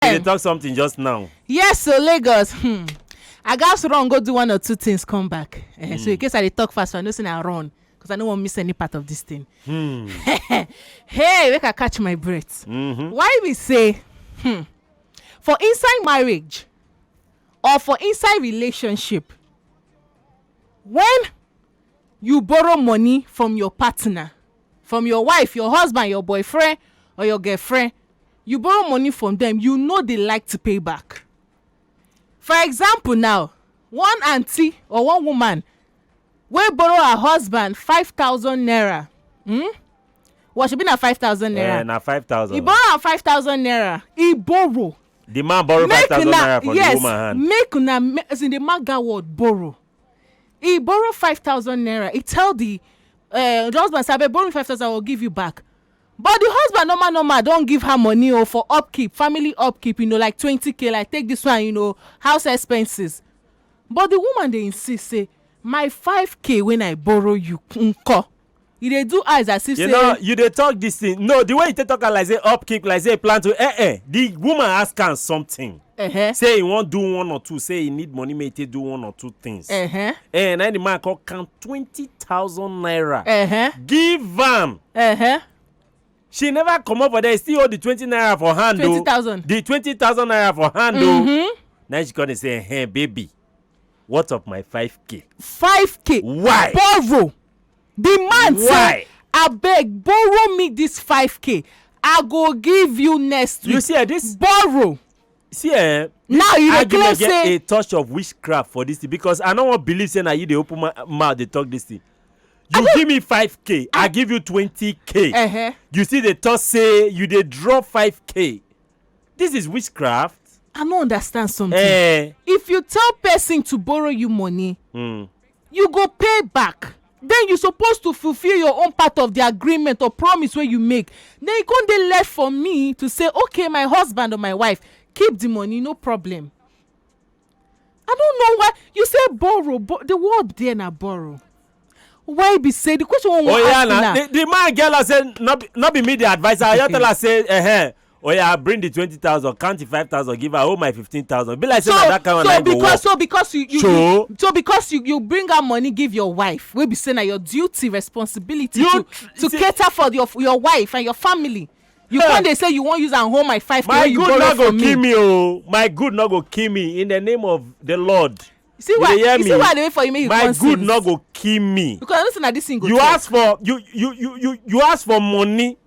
you dey talk something just now. yes so lagos hmm, i gats run go do one or two things come back Eh, so in case i dey talk fast i know say na run because i no wan miss any part of this thing hey make i catch my breath why we say hmm, for inside marriage or for inside relationship when you borrow money from your partner from your wife your husband your boyfriend or your girlfriend you borrow money from dem you no dey like to pay back for example now one aunty or one woman wey borrow her husband five thousand naira hmm well shebi na five thousand naira eh na five thousand he borrow am five thousand naira he borrow the man borrow five thousand naira from the woman hand yes make una ma- as in the man gat word borrow he borrow five thousand naira he tell the uh, the husband say abeg borrow me five thousand i go give you back But the husband normal normal don give her money o for upkeep, family upkeep you know like twenty k like take this one you know house expenses but the woman dey insist say my five k when I borrow you nko? E dey do eyes as if you say know you dey talk this thing no the way you take talk am like say upkeep like say plan to eh eh the woman ask am something Uh-huh. Say he wan do one or two, say he need money make he take do one or two things. Uh-huh. Eh, na the man come count twenty thousand naira. Uh-huh. Give am. Uh-huh. She never comot for there, he still hold the twenty naira for hand o. Twenty thousand. The twenty thousand naira for hand o. Mm-hmm. Now she come dey say, "Hey, baby, what of my five k?" Five k. Why? Borrow. Di man say, Why? Abeg borrow me dis 5k, I go give you next week. You see, eh, this borrow. see eh Now you dey argument claim get say a touch of witchcraft for this thing because i no wan believe say na you dey open mou- mouth dey talk this thing you give me 5k i give you 20k uh-huh. you still dey talk say you dey draw 5k this is witchcraft I no understand something. eh If you tell person to borrow you money, mm, you go pay back then you suppose to fulfill your own part of the agreement or promise wey you make then e come dey left for me to say okay my husband or my wife keep the money no problem i don't know why you say borrow bo the word there na borrow why be say the question wey we oh, wan yeah, ask na na the, the man get her say no be, no be me the adviser i just tell her say eh, eh oh yeah bring the twenty thousand count the five thousand give her oh my fifteen thousand be like say na that kind of line go work so because you you so, so because you you bring her money give your wife wey be say na your duty responsibility you, to to see, cater for your your wife and your family you hey. come dey say you wan use am hold my five k wey you borrow from me. my good no go kill me o oh. my good no go kill me in the name of the lord see why you, you see why i dey wait for you make you come sing my good no go kill me because i know say na this thing go you ask for you you you you you ask for money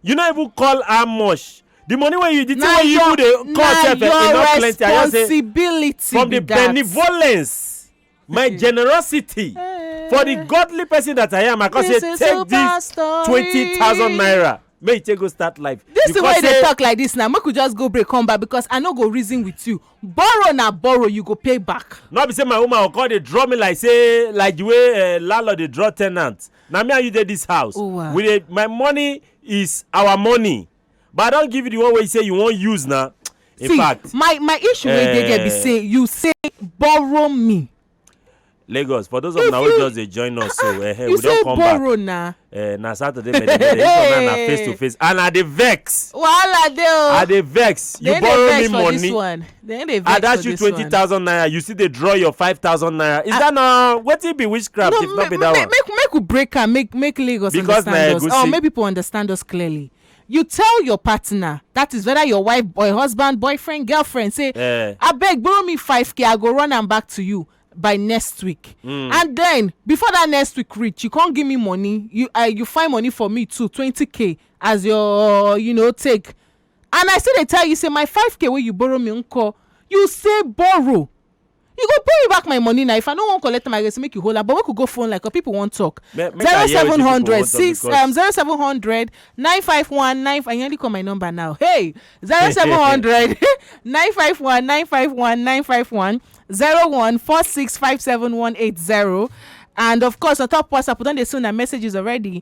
you no even call how much the money wey you the thing wey you even dey call sef eh, e no plenty i just say from the benevolence my hmm. generosity eh. for the godly person that i am i come say take this twenty thousand naira make you take go start life. this thing wey you dey talk like this now make we just go break come back because i no go reason with you borrow na borrow you go pay back. no be say my woman go come dey draw me like say like the way uh, landlord dey draw ten ant Na me and you dey this house. Owa. We dey my money is our money. But I don give you the one wey you say you wan use na. In see fact, my my issue wey dey there be eh, say you say borrow me Lagos for those of If una wey you- just dey join us so eh, eh, you we don say come back. borrow na Eh, na Saturday many many. This one now na face to face and I dey vex. wahala dey I o dey vex. You They dey borrow vex me for this money. one. They dey vex I dash for you this twenty one. thousand naira you still dey draw your five thousand naira is that na wetin be witchcraft if not be ma- that ma- one. make make we break am make make lagos Because na understand us egusi. or make people understand us clearly you tell your partner that is whether your wife boy husband boyfriend girlfriend say Eh. abeg borrow me 5k i go run am back to you by next week Hmm. and then before that next week reach you come give me money you uh, you find money for me too 20k as your you know take and i still dey tell you say my 5k wey you borrow me nko you say borrow you go pay me back my money na if i no wan collect am i go say make you hold am but make we go phone like or people wan talk Make- make I hear wetin people wan 0700 talk 6 because- um 0700 951 9 i nearly call my number now hey 0700 951 951 951 01 46 57180 and of course on top whatsapp we don dey see una messages already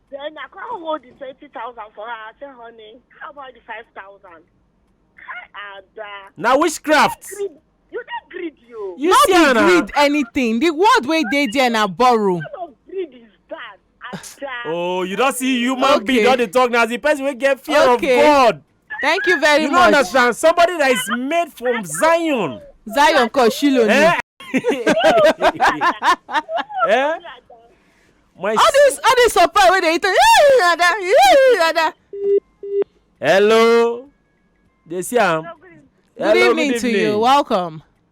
Then I can't hold the 20,000 for her. I said, honey, how about the 5,000? Ada. Now witchcraft. Greed. You dey greed you. You no see be am na? greed anything the word wey dey there na borrow What kind of greed is that? Ada. Oh, you don see human being Okay. don dey talk na as the person wey get fear Okay. of God. Thank you very you much. You don't understand. Somebody that is made from Zion. Zion called Shiloh. Eh? eh? My all this all this surprise wey dey eat am. hello dey see am. hello good evening to you welcome.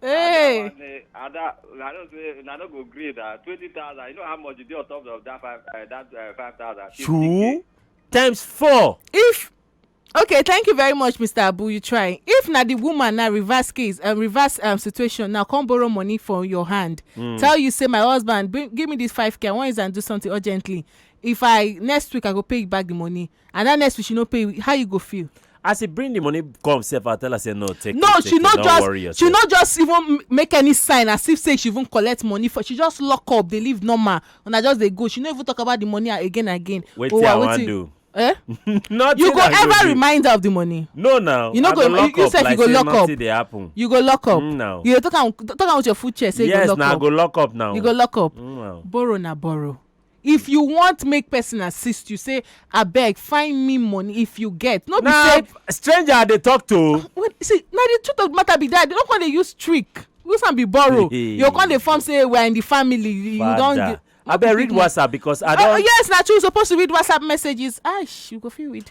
Hey. That one, eh, and that, I don't say, I don't go grade that. 20,000, you know how much you do on top of that five, uh, that uh, 5,000? True. Times four. If okay thank you very much mr abu you try if na the woman na reverse case um, reverse um, situation na come borrow money from your hand mm. tell you say my husband bring, give me this five k i wan use am do something urgently if i next week i go pay you back the money and that next week she no pay you how you go feel. as he bring the money come sef i tell her say no take no it, she no just she no just even make any sign as if say she even collect money for she just lock up dey live normal and i just dey go she no even talk about the money again again. wetin oh, i wan do. Eh? nothing you go ever remind her of the money. no now you no go you, you sef like you go lock up dey happen. you go lock up. Mm, now you dey talk am talk am with your full chest say yes, you go lock up. yes na i go lock up now. you go lock up. Mm, now. borrow na borrow. If you want make person assist you say abeg find me money if you get no be na say stranger i dey talk to o. when see na the truth of the matter be that they no come dey use trick use am be borrow you go come dey form say we are in the family you you don Father. get no be abeg read big man. whatsapp because i Oh, don yes, na true. You supposed to read WhatsApp messages. Ash, you go feel read.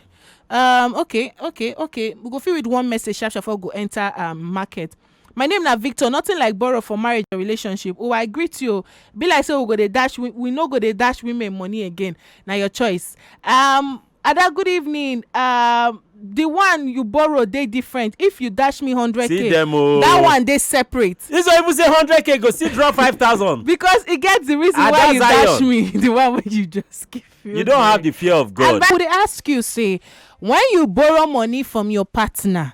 Um, okay, okay, okay. We go feel read one message sharp sharp before we go enter um market. My name na Victor, nothing like borrow for marriage or relationship ooh I greet you oh Be like say we go dey dash wi we no go dey dash women money again na your choice um Ada good evening um the one you borrow dey different if you dash me hundred See k them oh. that one dey separate This one even say hundred k go still drop five thousand. because e get the reason Ada why you Zion. dash me the one wey you just give me. You don't have the fear of God. I would ask you say when you borrow money from your partner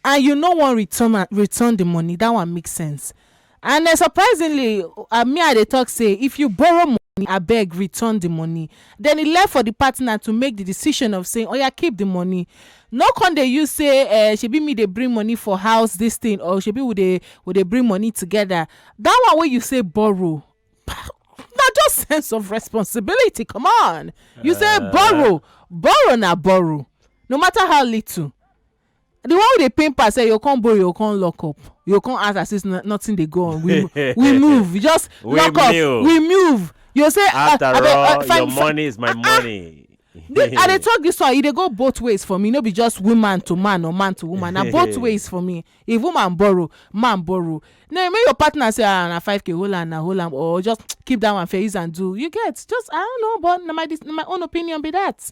and you no wan return am return the money that one make sense and um surprisingly uh, me i dey talk say if you borrow money abeg return the money then e left for the partner to make the decision of saying oya keep the money no con dey use say uh, shebi me dey bring money for house this thing or shebi we dey we dey bring money together that one wey you say borrow na just sense of responsibility come on you say borrow borrow na borrow no matter how little the one wey dey pain pass say you come borrow you come lock up you come ask as if no- nothing dey go on we we move you just We lock up move. we move you say ah, after abeg, ah, all fine, your fine. money is my money. This- i dey talk this one e dey go both ways for me no be just woman to man or man to woman na both ways for me if woman borrow man borrow na make your partner say ah na five k hold am na hold am or just keep that one fair use am do you get just i don't know but na my dis- na my own opinion be that.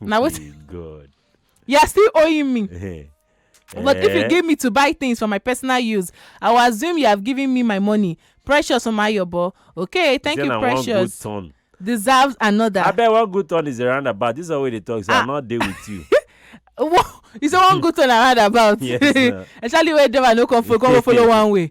na what Hey, God. you are still owing me Eh. but if you Eh. give me to buy things for my personal use i will assume you have given me my money precious omayobo okay thank Say you na one good precious turn. deserves another I bet one good turn is a roundabout. This is how they talk. So Ah. I'm not there with you. Wha- you say one good turn around about Yes, na. especially where driver no come follow come follow one way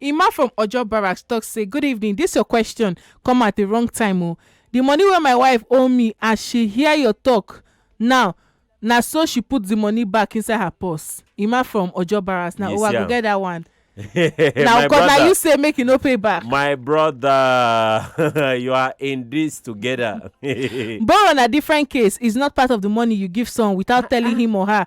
Emma from Ojo Barracks talk say good evening this your question come at the wrong time o the money wey my wife owe me as she hear your talk now na so she put the money back inside her purse Emma from Ojo Barracks na You oh I see go am. get that one na my cause na brother you say make you no pay back my brother you are in this together borrow na different case is not part of the money you give someone without telling him or her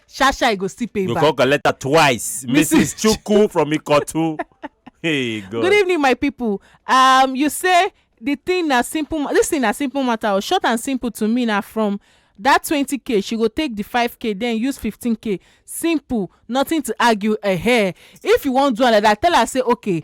sha sha e go still pay you back. come collect her twice Mrs. mrs chukwu from ikotu hey god good evening my people um you say the thing na simple ma- this thing na simple matter o short and simple to me na from that twenty k she go take the five k then use fifteen k simple nothing to argue eh if you wan do am like that tell her say okay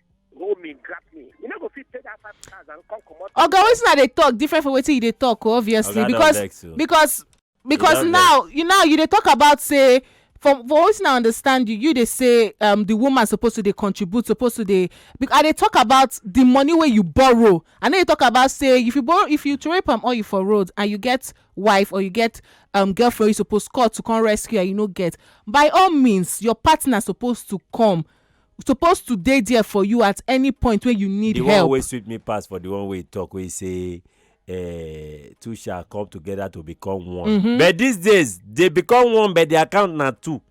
hold me grab me you no go fit pay that five thousand come comot. oga wetin i dey talk different from wetin you dey talk oh, obviously Oga don because vex o. because because don now you now you dey talk about say from for wetin i understand you you dey say um, the woman suppose to dey contribute suppose to dey bec- i dey talk about the money wey you borrow i no dey talk about say if you borrow if you throway palm oil for road and you get wife or you get um, girlfriend you suppose call to come rescue her you no get by all means your partner suppose to come suppose to dey there for you at any point wey you need the one help wey sweet me pass for the one wey he talk wey he say eh, two shall come together to become one but these days they become one but the account na two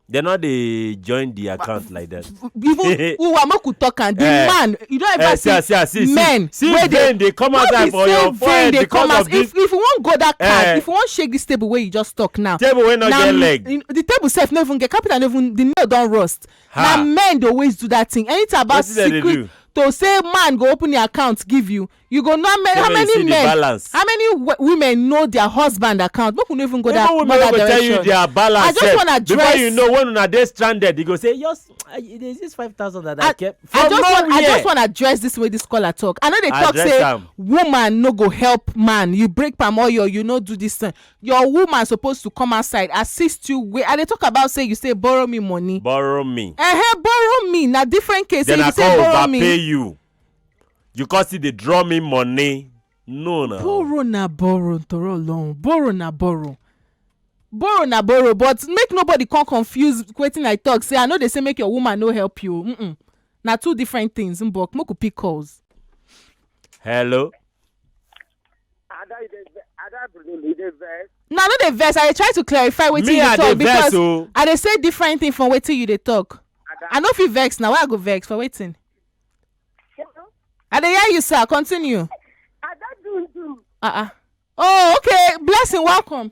they no dey join the account like that. even uwa make we talk am the Eh. man you don Eh, ever see see see ah, see see men see wey dey vein dey come no be outside for say your vein forehead dey because come of out this if if you wan go that card Eh. if you wan shake this table wey you just talk now table wey no na get m- leg. in- the table sef no even get carpenter no even the nail don rust na men dey always do that thing anything about secret to say man go open the account give you you go know how many men how many women know their husband account make we no even go that go tell you their balance i just wan address before you know when una dey stranded you go say yes there is this five thousand that i kept from nowhere i just wan address this way this caller talk i no dey talk say woman no go help man you break palm oil you no do this thing Your woman suppose to come outside assist you wey I dey talk about say you say borrow me money. borrow me Ehe, borrow me na different case. then If i you say come borrow me, overpay you you come still dey draw me money no na borrow na borrow nítorí ọlọrun borrow na borrow borrow na borrow but make nobody come confuse wetin i talk say i no dey say make your woman no help you mm -mm. na two different things mbok make we pick calls. hello Ada, you dey ve- Ada Bruno, you dey vex. no i no dey vex i dey try to clarify wetin me you i dey talk vex because o i dey say different thing from wetin you dey talk Ada, i no fit vex na why i go vex for wetin Hello? i dey hear you sir continue Ada Dundun. ah ah oh okay blessing welcome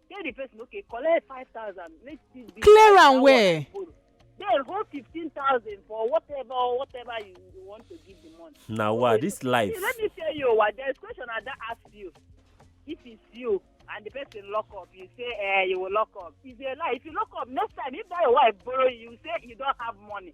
tell the person okay collect five thousand make still be clear am well then hold fifteen thousand for whatever whatever you, you want to give the money. na wa this life. See, let me tell you wa there is question i don ask you if it's you and the person lock up you say eh you will lock up it's a lie if you lock up next time if that your wife borrow you you say you don have money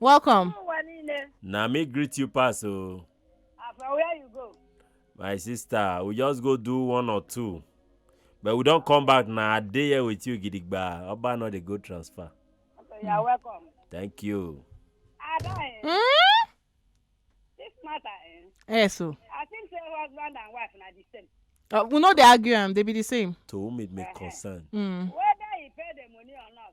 welcome ụwa niile na me greet you pass o ah, from where you go my sister we just go do one or two but we don come back na i dey here with you gidigba oba no dey go transfer okay you are welcome thank you. ada eh, Hmm? this matter eh, yes so i think say husband and wife na the same uh, we no dey argue am dey be the same to whom it may concern. mm. whether he pay the money or not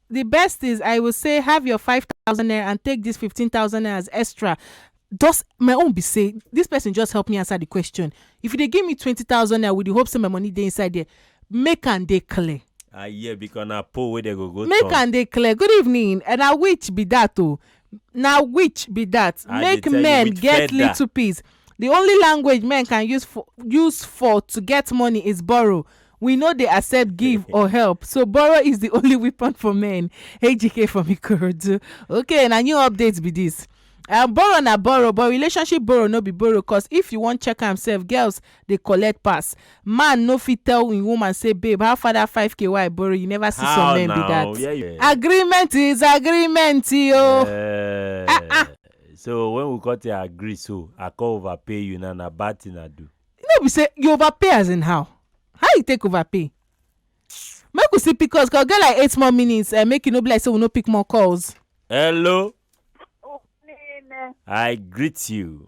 the best things i will say have your 5000 naira and take this 15000 naira as extra just my own be say this person just help me answer the question if you dey give me 20000 naira with the hope say my money dey inside there make am dey clear I hear because na poll wey dem go go make turn. am dey clear good evening and na which be that o na which be dat I dey make tell you men with get feather. little peace the only language men can use for use for to get money is borrow we no dey accept give or help so borrow is the only weapon for men ejike from ikorodu okay na new update be this um, borrow na borrow but relationship borrow no be borrow cause if you wan check am sef girls dey collect pass man no fit tell him woman say babe how far that five k wey I borrow you never see some men be that agreement is agreement yo Eh, Ah, ah. so when we cut your agree so i come overpay you now na bad thing i do no be say you overpay as in how how you take overpay make we see pcos cause get like eight more minutes and make e no be like say we no pick more calls hello i greet you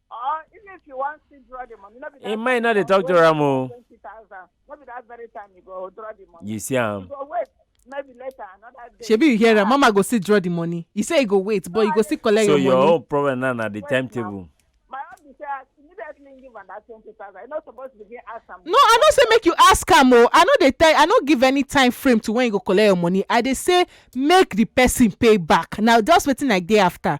Or even if you wan still draw the money, no be that Im mind no dey talk to am o. Twenty thousand, no be that very time you go draw the money. You see You am. go wait, maybe later another day. shebi you hear am mama go still draw the money he say he go wait but you go still collect So your your money own problem now na the Wait timetable. My own be say I immediately give am that twenty thousand. You no suppose begin ask am. no i no say make you ask am o i no dey tell i no give any time frame to when you go collect your money i dey say make the person pay back na just wetin i dey after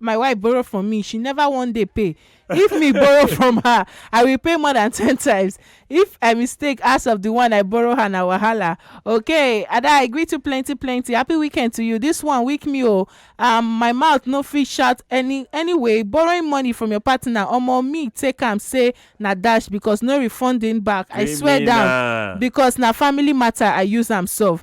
my wife borrow from me she never one day pay if me borrow from her i will pay more than ten times if i mistake ask of the one i borrow her na wahala okay ada i agree to plenty plenty happy weekend to you this one weak me o um, my mouth no fit shout any anyway borrowing money from your partner omo me take am say na dash because no refunding back i swear down Criminal. because na family matter i use am solve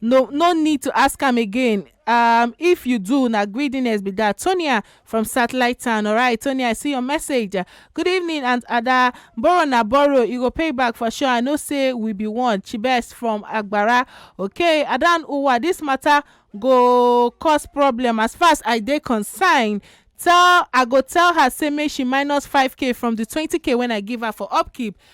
No no need to ask am again um if you do na greediness be that. Tonia from Satellite Town. Alright, Tonia, I see your message. Good evening, Aunt Ada. Borrow na borrow, you go pay back for sure. I know say we be one. Chibes from Agbara. Okay, Adan Uwa, this matter go cause problem as far as I dey concerned. Tell I go tell her say make she minus 5k from the 20k when I give her for upkeep.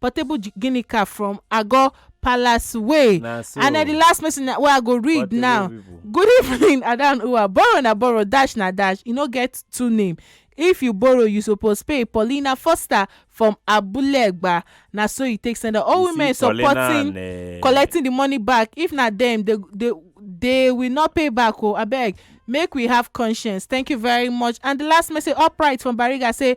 portable gi- guinea car from agor palace way na so and na the last message na- wey i go read Portable now people. good evening adan uwa borrow na borrow dash na dash e no get two name if you borrow you suppose pay paulina foster from abulegba na so e take send am all You see, women Paulina supporting and, eh, collecting the money back if na them they they they will not pay back o abeg make we have conscience thank you very much and the last message upright from bariga say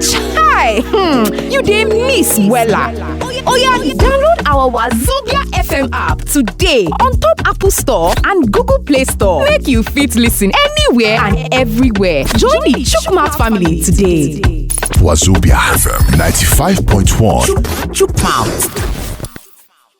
Chai! Hmm, you dey miss wella. Oya download our Wazobia FM app today on top Apple Store and Google Play Store make you fit listen anywhere and everywhere. Join the Chukwumouth family today. Wazobia FM 95.1. Chukwumouth.